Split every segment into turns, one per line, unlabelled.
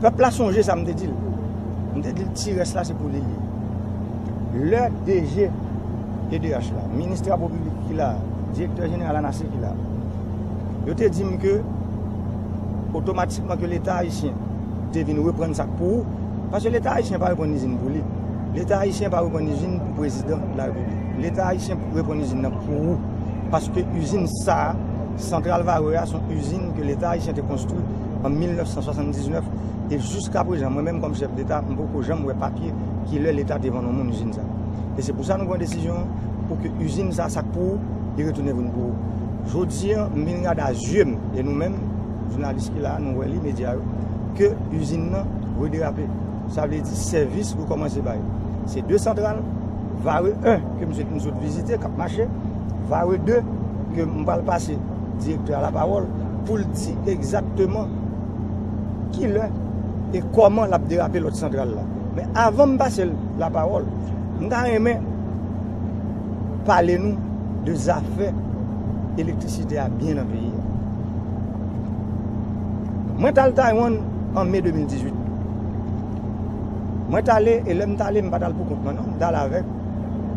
Pèp la sonje sa m te di l. M te di l ti rès la se pou li l ye. Lè DG pnh la, minis travo piblik ki la, direktè jeneral anase ki la, yo te di m ke otomatikman ke leta ayisyen te vin reprann sa k pou ou, paske leta ayisyen pa reprann izin pou li, leta ayisyen pa reprann izin pou prezidan larepiblik, leta ayisyen reprann izin nan pou ou, paske izin sa a. Santral Varreux a son izin ke leta ayisyen te konstwi an 1979 e jiska prezan mwen menm kòm chèf deta m poko janm wè papye ki lè leta te vann yon moun izin sa. E se pou sa nou pran desizyon pou ke izin sa sa k pou ou li retounen vin pou ou. Jodi an m vin gade a zye m e nou menm jounalis ki la a nou wè li medya yo ke izin nan rederape sa vle di sèvis rekòmanse bay se 2 santral Vare 1, ke mswete nou sot vizite, k ap mache. Vare 2, ke m pral pase Direktè a lapawòl pou l di egzakteman ki lè e kòman l ap derape lòt santral la. Men avan m pase l lapawòl, m ta renmen pale nou de zafè elektrisite a byen nan peyi a. Mwen t al Taywann an me 2018. Mwen t ale e lè m t ale m pa t al poukont mwen non, m t al avèk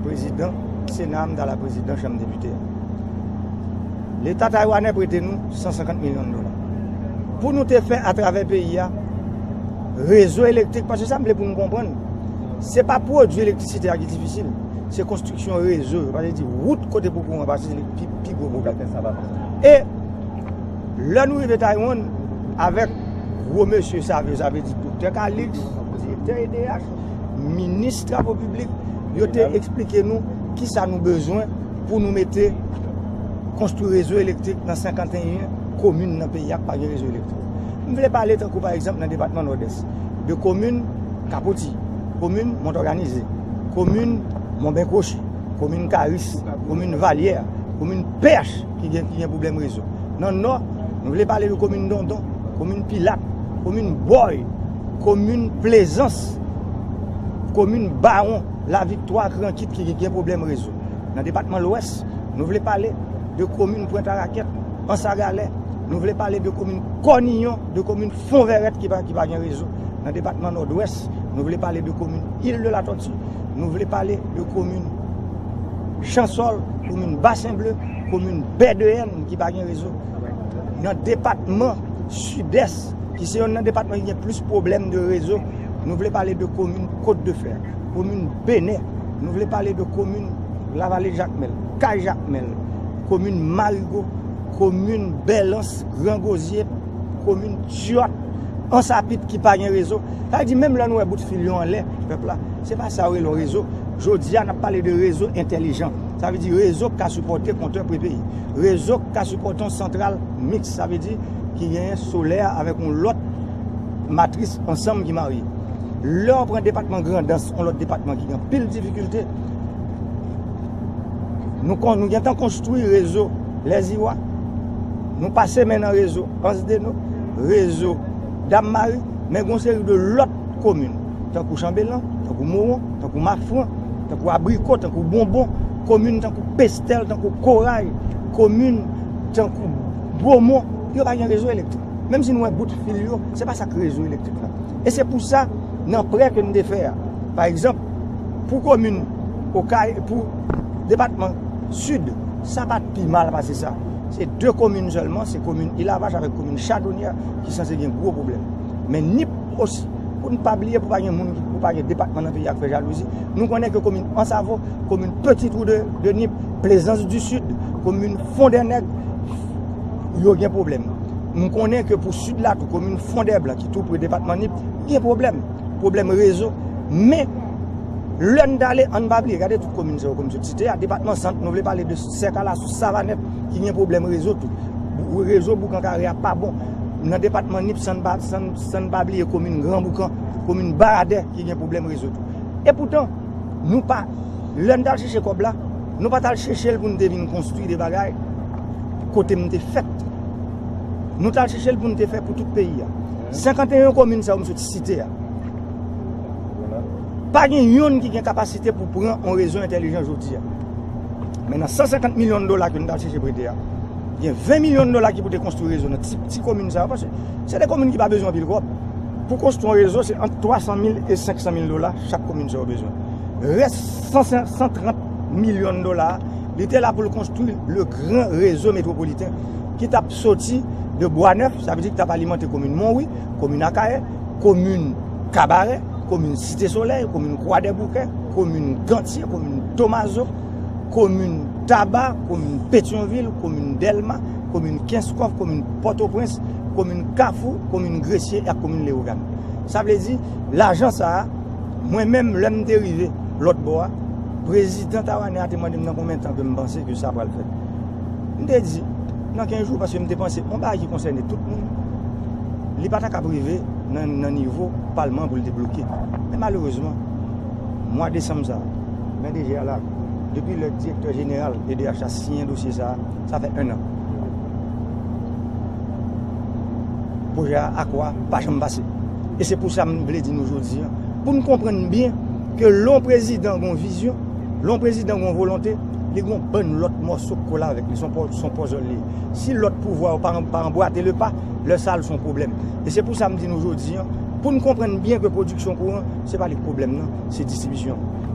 prezidan sena a, m t al ak prezidan chanm depite a. Leta taywanè prete nou 150 milyon dola pou nou te fè atravè peyi a rezo elektrik, paske sa m vle pou nou konprann, se pa pwodui elektrisite a ki difisil, se konstriksyon rezo, yo pa vle di wout kote pou kouran pase se li ki pi gwo pwoblèm. E. Lè nou rive Taiwan, avèk gwo mesye savyo, sa vle di Doktè Kalix, Direktè edh, Minis Travo Piblik, yo te eksplike nou ki sa nou bezwen pou nou mete konstwi rezo elektrik nan 51 komin nan peyi a ki pa gen rezo elektrik. M vle pale tankou pa egzanp nan depatman Nòdès, de komin Kapoti, komin Montòganize, komin Monbenkwochi, komin Karis, komin Valyè, komin Pnh. ki gen pwoblèm rezo. Nan Nò, nou vle pale de komin Dondon, komin Pilat, komin Bòy, komin Plezans, komin Bawon, Laviktwa ak Rankit ki gen pwoblèm rezo. Nan depatman Lwès, nou vle pale de komin Pwentarakèt, Ansagalè, nou vle pale de komin Kòniyon, de komin Fonvèrèt ki pa gen rezo. Nan depatman Nòdwès, nou vle pale de komin Île de la Tortue. Nou vle pale de komin Chansòl, komin Basen Ble, komin Bèdeyèn ki pa gen rezo. Nan depatman Sidès, ki se yon nan depatman ki gen plis pwoblèm de rezo, nou vle pale de komin Kot de Fè, komin Benè, nou vle pale de komin Lavale Jakmèl, Kay Jakmèl, komin Marigo, komin Bèlans, Gran Gozye, komin Tiyòt, Ansapit ki pa gen rezo. Sa vle di menm lè nou wè bout fil yo anlè pèp la, se pa sa yo rele yon rezo. Jodi a n ap pale de rezo entèlijan. Sa vle di rezo k ka sipòte kontè prepeyi. Rezo k ka sipòte yon santral miks. Sa vle di ki genyen solè a avèk yon lòt matris ansanm ki marye. Lè ou pran depatman Grandans, yon lòt depatman ki gen anpil difikilte, nou kon nou gentan konstwi rezo Lèziwa. Nou pase men nan rezo Ansdeno, rezo. Dammari, men gon seri de lòt komin, tankou Chanbelan, tankou Moron, tankou Mafran, tankou Abriko, tankou Bonbon, komin tankou Pestèl, tankou Koray, komin tankou Bomon, yo pa gen rezo elektrik. Menm si nou wè bout fil yo, se pa sa k rezo elektrik la. E se pou sa, nan prè ke n te fè a, pa egzanp, pou komin Okay, pou depatman Sid, sa pa t pi mal pase sa. Se 2 komin sèlman, se komin Ilavach avèk komin Chadonyè. ki sanse gen gwo pwoblèm. Men ni osi, pou n pa bliye pou pa gen moun, pou pa gen depatman nan peyi a k fè jalouzi, nou konnen ke komin Ansavo, komin Peti Twou de Nip, Plezans di Sid, komin Fondènèg, yo gen pwoblèm. Nou konnen ke pou Sid la tou, komin Fondèblan ki tou pre depatman Nip, gen pwoblèm. Pwoblèm rezo. Men, lè n t ale, an n pa bliye, gade tout komin sa yo ke m sot site a, depatman Sant, nou vle pale de. Sè kala sou savanèt ki gen pwoblèm rezo tou. Rezo boukan kare a pa bon. Nan depatman nip san n pa bliye komin gran boukan, komin baradè ki gen pwoblèm rezo tou. E poutan nou pa lè n ta al chèche kòb la nou pa ta al chèche l pou n te vin konstwi de bagay kote m te fèt. Nou ta al chèche l pou n te fè pou tout peyi a. 51 komin sa yo m sot site a. Pa gen youn ki gen kapasite pou pran yon rezo entelijan jodi a. Men nan 150 milyon dola ke nou ta cheche prete a, gen 20 milyon dola ki pou te konstri rezo nan ti komin sa yo. Pase, se de komin ki pa bezwen anpil kob. Pou konstri yon rezo, se ant 300 mil e 500 mil dola chak komin sa yo bezwen. Res 130 milyon dola, li te la pou l konstri le gran rezo metropoliten ki tap soti de Bwa Nèf, sa vle di ki tap alimante komin Monwi, komin Akayè, komin. Kabarè, komin Site Solèy, komin Kwadèboukè, komin Gantye, komin Tomazo, komin Taba, komin Petyonvil, komin Dèlma, komin Kenskòf, komin Pòtoprens, komin Kafou, komin Gresye ak komin Lewogàn. Sa vle di, lajan sa a, mwen menm lè m te rive lòt bò a, prezidan Tawanè a te mande m nan konbyen tan ke m panse ke sa pral fèt. M te di, nan 15 jou, paske m te panse yon bagay ki konsène tout moun, li pa ta kab rive nan nivo palman pou l te bloke. Men malerezman, mwa desanm sa, men deje a la, depi lè direktè jeneral edh la siyen dosye sa, sa fè 1 an. Pwojè a akwa pa janm pase. E se pou sa m vle di nou jodi an, pou n konprann byen ke lè yon prezidan gen yon vizyon, Lè yon prezidan gen yon volonte, li gen yon bann lòt mòso k kole avèk li, s on pòzòl li ye. Si lòt pouvwa yo pa anbwate le pa, lè sa l s on pwoblèm. E se pou sa m di nou jodi an, pou n konprann byen ke pwodiksyon kouran, se pa li k pwoblèm nan, se distribisyon an.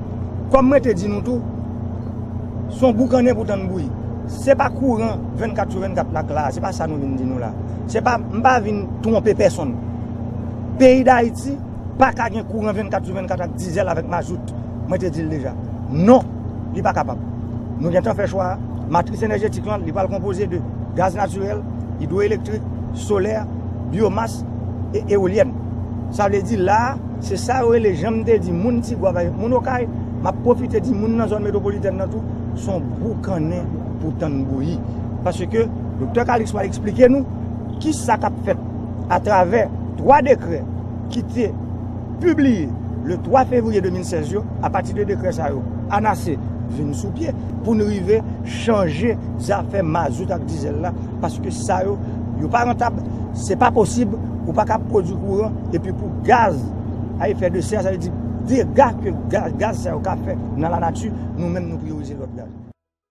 Kòm m rete di nou tou, s on boukannen pou tann bouyi. Se pa kouran 24 sou 24 la k la a, se pa sa nou vin di nou la a. Se pa, m pa vin twonpe pèsonn. Peyi Dayiti, Paka gen kouran 24 sou 24 ak dizèl avèk mazout. Mwen te di l deja. Non! Li pa kapab. Nou gen tan fè chwa a. Matris enèjetik lan, li pral konpoze de gaz natirèl, idwoelektrik, solè, byomas e ewolyèn. Sa vle di la a, se sa yo rele, jan m te di moun Tigwav avèk moun Okay, m ap pwofite di moun nan zòn metwopolitèn nan tou, s on boukannen pou tann bouyi. Paske Doktè Calixte pral esplike nou ki sa k ap fèt. atravè 3 dekrè ki te pibliye le 3 fevriye 2016 yo, apati de dekrè sa yo, anase vin sou pye pou nou rive chanje zafè mazout ak dizèl la, paske sa yo, yo pa rantab, se pa posib, ou pa kap pwodwi kouran, epi pou gaz a efè de sè, sa vle di dega ke gaz sa yo ka fè nan la nati, nou menm nou priyorize lòt gaz.